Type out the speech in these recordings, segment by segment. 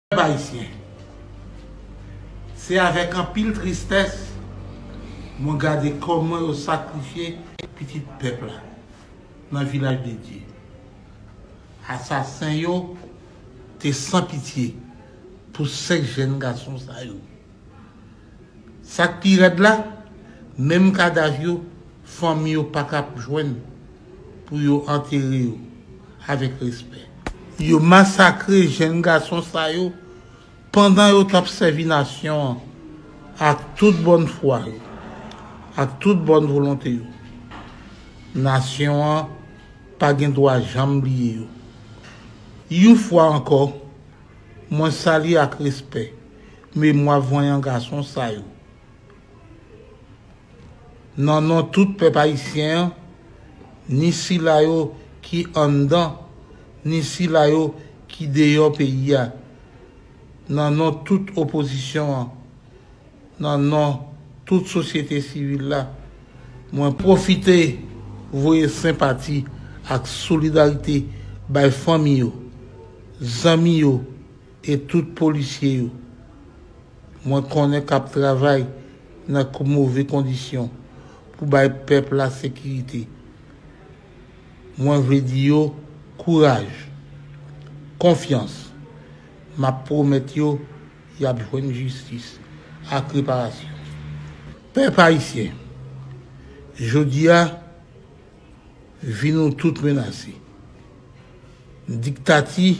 Pèp Ayisyen, se avèk anpil tristès mwen gade kòman yo sakrifye pitit pèp la nan Vilaj de Dye. Asasen yo te san pitye pou 5 jèn gason sa yo. Sa k pi rèd la, menm kadav yo, fanmi yo pa ka p jwenn pou yo antere yo avèk respè. Yo masakre jenn gason sa yo pandan yo t ap sèvi nasyon an ak tout bòn fwa yo, ak tout bòn volonte yo. Nasyon an pa gen dwa janm bliye yo yon fwa ankò. Mwen salye ak respè memwa vanyan gason sa yo. Nan non tout pèp ayisyen an, ni sila yo ki anndan, ni sila yo ki deyò peyi a, nan non tout opozisyon an, nan non tout sosyete sivil la, mwen pwofite voye senpati ak solidarite bay fanmi yo. Zanmi yo e tout polisye yo mwen konnen k ap travay nan move kondisyon pou bay pèp la sekirite, mwen vle di yo kouraj, konfyans. M ap pwomèt yo y ap jwenn jistis ak reparasyon. Pèp ayisyen, jodi a. Vi nou tout menase. Diktati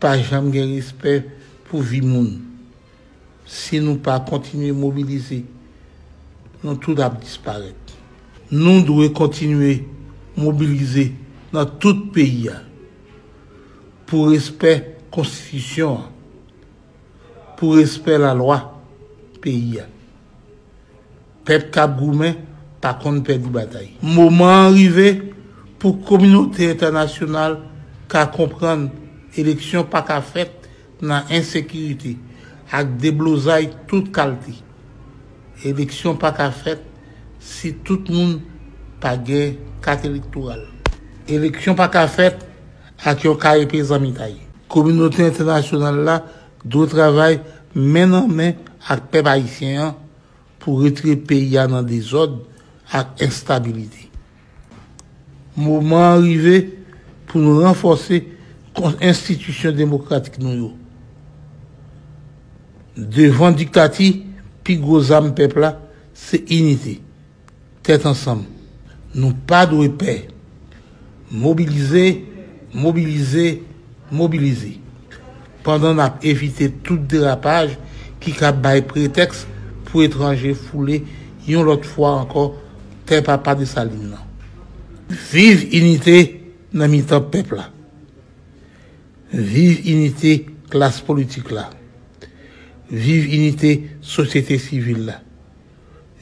pa janm gen respè pou vi moun. Si nou pa kontinye mobilize, nou tout ap disparèt. Nou dwe kontinye mobilize nan tout peyi a pou respè konstitisyon an. pou respè la lwa peyi a. Pèp kap goumen pa konn pèdi batay. Moman an rive pou kominote entènasyonal ka konprann eleksyon pa ka fèt nan ensekirite ak deblozay tout kalte. Eleksyon pa ka fèt si tout moun pa gen kat elektoral. Eleksyon pa ka fèt ak yon karepe zanmitay. Kominote entènasyonal la dwe travay men nan men ak pèp ayisyen an pou retire peyi a nan dezòd ak enstabilite. Moman an rive pou nou ranfòse enstitisyon demokratik nou yo devan diktati, pi gwo zam pèp la se inite, Tèt ansanm. Nou pa dwe pè. Mobilize, mobilize, mobilize. Pandan n ap evite tout derapaj ki ka bay pretèks pou etranje foule yon lòt fwa ankò tè papa Desalin nan. Viv inite nan mitan pèp la. Viv inite klas politik la. Viv inite sosyete sivil la.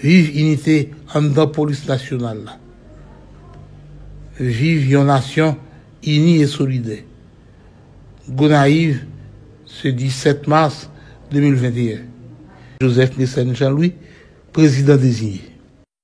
Viv inite anndan polis nasyonal la. Viv yon nasyon ini e solidè. Gonayiv se 17 mas 2021. Joseph Mécène Jean Louis, Prezidan deziye.